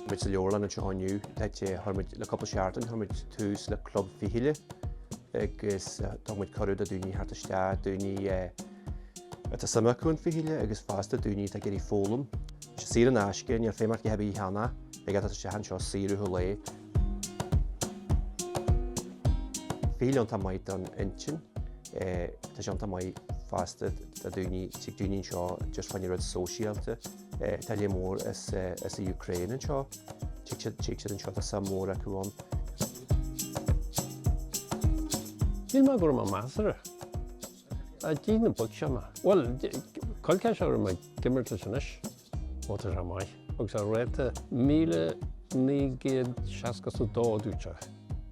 Muid sa leabharlann anseo inniu le, chuir muid le cúpla seachtain, chuir muid tús le club fichille agus tá muid cuireadh do dhaoine theacht isteach, daoine atá suim acu san fhichille agus fosta daoine atá ag iarraidh foghlaim. Tá sé saor in aisce, níl feidhm ort a dhath ar bith a cheannacht, thig leat teacht isteach anseo saor ó tháille. Fichille iontach maith don intinn. Tá sé iontach maith fosta do dhaoine, tig daoine anseo just fá choinne rud sóisialta. Tá lear mór as as an Ukraine anseo. Tig siad tig siad anseo tá suim mhór acu ann. Níl mé go rómhaith, measartha. Ar dtí na boic seo maith, bhuel, coill ceist orainn ag imirt leis anois, ó tá sé maith, agus a rating 1962 a dúirt sé.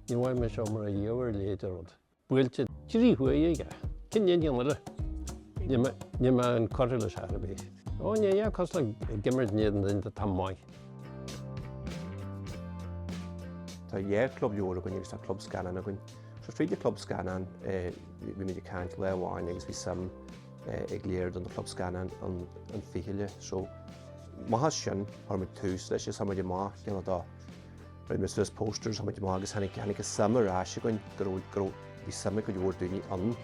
Ní bheadh mise mar a dhíobh a leithéid de rud. Buailte trí huaire aige. Cén aon cheann eile? Níl mé inchurtha leis ar bith. Ó, níl a dhath cosúil le imirt in éadan duine atá maith. Tá dhá chlub leabhar againn agus tá club scannáin againn. So fríd an Club Scannán bhí muid ag caint lá amháin agus bhí suim ag lear den Club Scannán san fhichille so amach as sin chuir muid tús leis agus chuaigh muid amach céanna do Rinne muid suas posters chuaigh muid amach agus tháinig tháinig an suim ar ais chugainn go raibh go raibh bhí suim ag go leor daoine ann.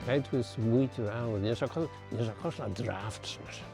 Beidh tú ag smaointiú ann. Níos casta níos casta ná draughts mar sin.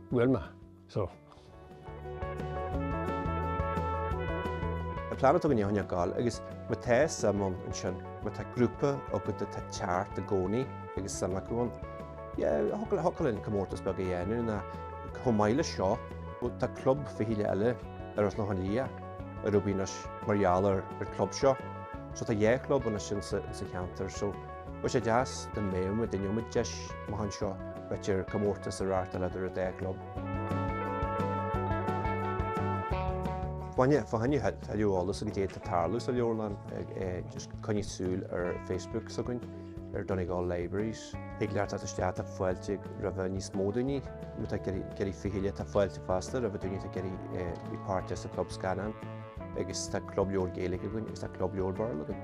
bhfuil mé so. An plean atá againn é a choinneáil ag gabháil agus má tá suim ann ansin, má tá grúpa agat atá ag teacht i gcónaí agus suim acu ann, yeah, thiocfadh linn comórtas beag a dhéanamh nó chomh maith leis seo, tá club fichille eile ar an Chlochán Liath ar bun anois mar gheall ar an gclub seo, so tá dhá chlub anois ann sa cheantar so. Bheadh sé deas dá mbeadh muid in inmhe deis amach anseo, b'fhéidir comórtas a reáchtáil eadar an dá chlub. Fá choinne tuilleadh eolas ar caidé atá ag tarlú sa leabharlann, just coinnigh súil ar Facebook s'againn ar Donegal Libraries. Thig leat teacht isteach, tá fáilte roimh níos mó daoine, má tá tú ag iarraidh fichille tá fáilte fosta roimh daoine atá ag iarraidh bheith páirteach sa Club Scannán, agus tá Club Leabhar Gaeilge againn agus tá Club Leabhar Béarla againn.